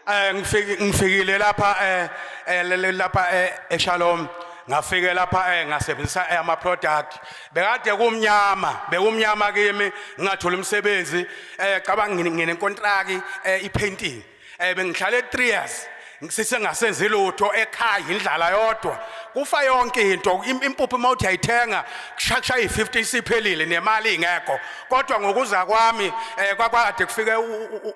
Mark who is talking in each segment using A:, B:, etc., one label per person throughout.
A: Eh ngifike ngifikile lapha eh, eh lapha eh, eShalom ngafike lapha eh ngasebenzisa eh, ama product bekade kumnyama bekumnyama kimi ngingatholi umsebenzi eh cabanga ngine contract eh i painting eh bengihlale 3 years sisengasenzi lutho ekhaya indlala yodwa kufa yonke into impuphu uma uthi ayithenga kushaya i-50 isiphelile nemali ingekho kodwa ngokuza kwami um eh, kwakade kufike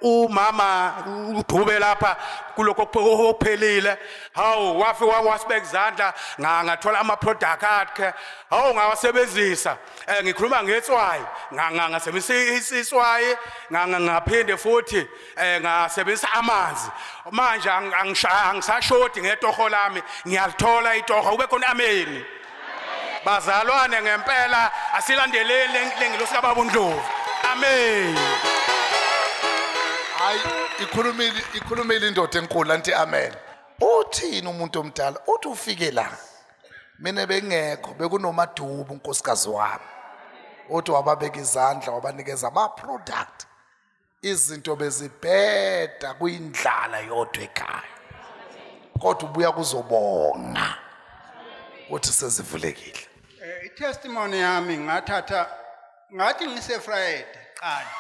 A: umama udube lapha kulokho okuphelile hawu wafi wasibeka izandla ngathola ama-product akhe hawu ngawasebenzisa um ngikhuluma ngetswayi ngasebenza iswayi ngaphinde futhi eh ngasebenzisa amanzi manje angishaya angisashodi ngetoho lami ngiyalithola itoho ube khona ameni bazalwane ngempela asilandeleni lengilosi kababa uNdlovu amen
B: hayi ikhulumile ikhulumile indoda enkulu anti amen uthini umuntu omdala uthi ufike la mina bengekho bekunomadubu unkosikazi wami uthi wababeka izandla wabanikeza ama product izinto bezibheda kuyindlala yodwa ekhaya kodwa ubuya kuzobonga ukuthi sezivulekile eh itestimony
C: yami ngathatha ngathi ngise Friday qala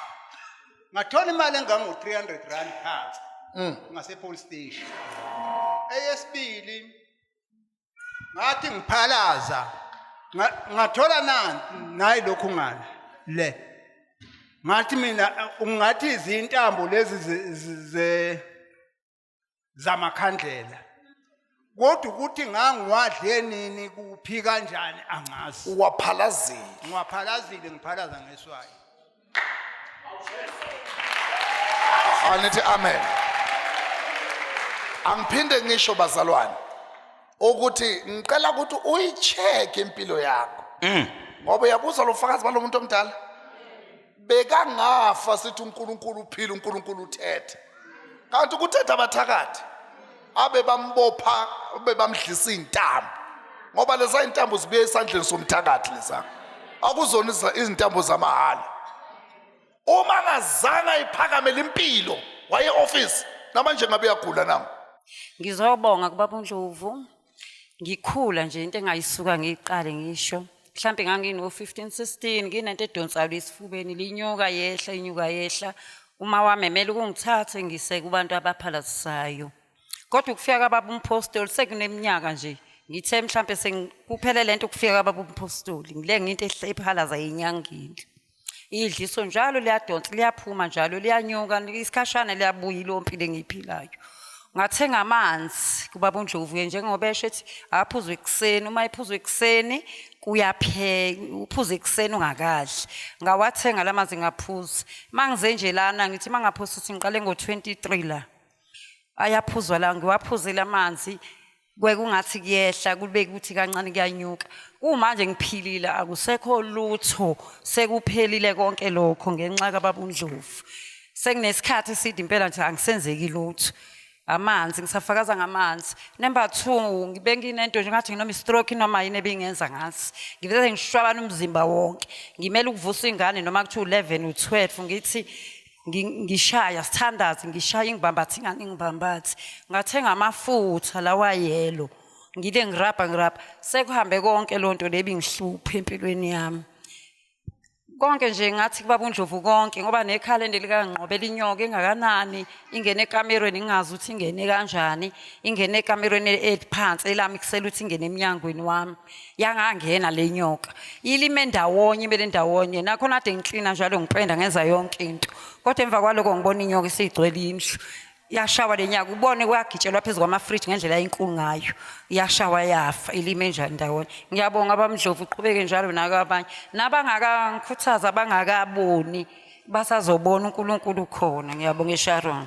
C: ngathola imali engango 300 rand phansi mm. ngase police station eyesibili ngathi ngiphalaza ngathola nanti nayi lokhu ngala le ngathi mina ungathi izintambo lezi ze zamakhandlela kodwa ukuthi ngangiwadle nini kuphi kanjani angazi uwaphalazile
B: ngiwaphalaziile ngiphalaza
C: ngeswayo
B: anithi amen angiphinde ngisho bazalwane ukuthi ngicela ukuthi uyicheck impilo yakho mm. ngoba uyabuza lo fakazi balo muntu omdala bekangafa sithi uNkulunkulu uphila uNkulunkulu uthethe kanti ukuthetha abathakathi abebambopha bebamdlisa izintambo ngoba leza intambo zibuye esandleni somthakathi leza akuzona izintambo zamahala uma ngazange iphakame limpilo waye office namanje ngabe uyagula nangu ngizobonga
D: kubaba uNdlovu ngikhula nje into engayisuka ngiqale ngisho mhlampe ngangino-fifteen sixteen nginento edonsayo lesifubeni linyuka yehla inyuka yehla uma wamemela ukungithathe ngise kubantu abaphalazisayo kodwa ukufika kababa umphostoli sekuneminyaka nje ngithe mhlampe sengikuphele lento ukufika kababa umphostoli ngile nginto ephalaza yenyangile idliso njalo liyadonsa liyaphuma njalo liyanyuka isikhashana liyabuya ilompilo engiyiphilayo ngathenga amanzi kubaba uNdlovuye njengoba esho ethi aphuzwe ekuseni uma ephuzwe ekuseni kuyapheka uphuze ekuseni ungakadli ngawathenga lamanzi ngaphuza mangize nje lana ngithi mangaphuza ukuthi ngiqale ngo23 la ayaphuzwa la ngiwaphuzile amanzi kwekungathi kuyehla kube kuthi kancane kuyanyuka kumanje ngiphilile akusekho lutho sekuphelile konke lokho ngenxa kababundlovu sekunesikhathi eside impela nje angisenzeki lutho amanzi ngisafakaza ngamanzi number 2 ngibe nginento nje ngathi nginoma stroke noma yini ebingenza ngathi ngivele ngishwabana umzimba wonke ngimele ukuvusa ingane noma kuthi u11 u12 ngithi Ngi- ngishaya sithandaze ngishaya ingibambathi ngani ingibambathi ngathenga amafutha lawa yelo ngile ngirabha ngirabha sekuhambe konke loo nto lebi ngihluphe empilweni yami konke nje ngathi kubaba undlovu konke ngoba nekhalende likangqobela inyoka engakanani ingene ekamerweni ngingazi ukuthi ingene kanjani ingene ekamerweni eliphansi elami kusele ukuthi ingene emnyangweni wami yangangena le nyoka ilime ndawonye ibe ndawonye nakhona ade ngiklina njalo ngipenda ngenza yonke into kodwa emva kwaloko ngibona inyoka isigcwele indlu yashawa le nyaka ubone kuyagitshelwa phezu kwamafriji ngendlela enkulu ngayo yashawa yafa ilime njani ndawonye ngiyabonga abamdlovu uqhubeke njalo nako abanye nabangakangikhuthaza bangakaboni basazobona unkulunkulu khona ngiyabonga esharon